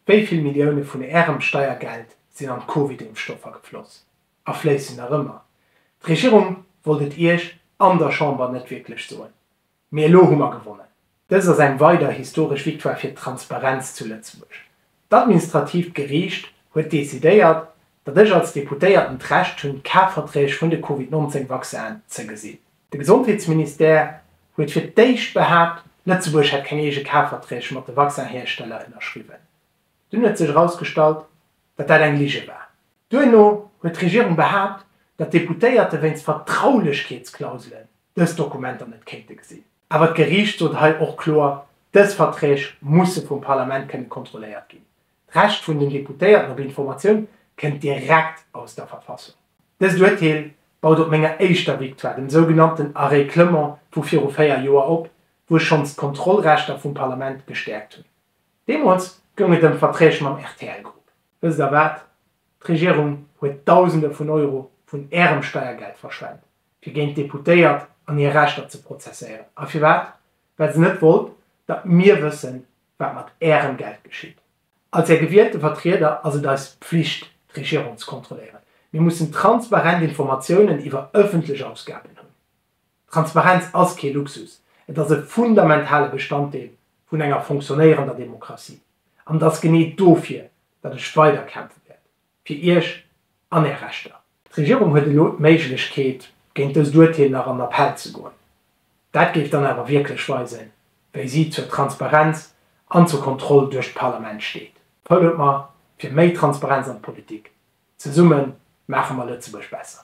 Wéi vill Millioune vun Ärem Steiergeld sinn an d'Covidimpfstoffer gefloss a fléissen nach ëmmer? D'Regierung wollt et Iech an der Chamber net wierklech soen, mee elo hu mer gewonnen. Dëst ass eng weider historesch Victoire fir d'Transparenz zu Lëtzebuerg. D'administratiivt Geriicht huet decidéiert, datt ech als Deputéierten d'Recht hunn, d'Kafverträg vun de Covid-19 Vaccinen ze gesinn. De Gesondheetsministère huet fir d'éischt behaapt, Lëtzebuerg hätt keng eege Kafverträg mat de Vaccinhiersteller ënnerschriwwen. Dunn huet sech erausgestallt, datt dat eng Lige war. Duerno huet d'Regierung behaapt, datt d'Deputéierte wéinst Vertraulechkeetsklauselen dës Dokumenter net kéinte gesinn. Awer d'Geriicht sot hei och kloer, Dës Verträg musse vum Parlament kënne kontrolléiert ginn. D'Recht vun den Deputéierten op Informatioun kënnt direkt aus der Verfassung. Dëst Urteel baut op menger éischter Victoire, dem sougenannten Arrêt Clement vu viru véier Joer op, wou ech schonns d'Kontrollrechter vum Parlament gestäerkt hunn. Deemools goung et ëm Verträg mam RTL-Grupp. Wësst Der wat? D'Regierung huet Dausende vun Euro vun Ärem Steiergeld verschwent, fir géint d'Deputéiert an hir Rechter ze prozesséieren. A firwat? Well se net wollt, datt mir wëssen, wat mat Ärem Geld geschitt. Als Är gewielte Vertrieder ass et eis Pflicht, d'Regierung ze kontrolléieren. Mir mussen transparent Informatiounen iwwer ëffentlech Ausgaben hunn. Transparenz ass kee Luxus, et ass e fundamentale Bestanddeel vun enger fonctionnéierender Demokratie. An et ass genee dofir, datt ech weider kämpfe wäert. fir Iech an Är Rechter. D'Regierung huet elo d'Méiglechkeet, géint dëst Urteel nach an Appell ze goen. Dat géif dann awer wierklech weisen, wéi si zur Transparenz an zur Kontroll duerch d'Parlament steet. Vote mer fir méi Transparenz an d'Politik! Zesumme maache mer Lëtzebuerg besser!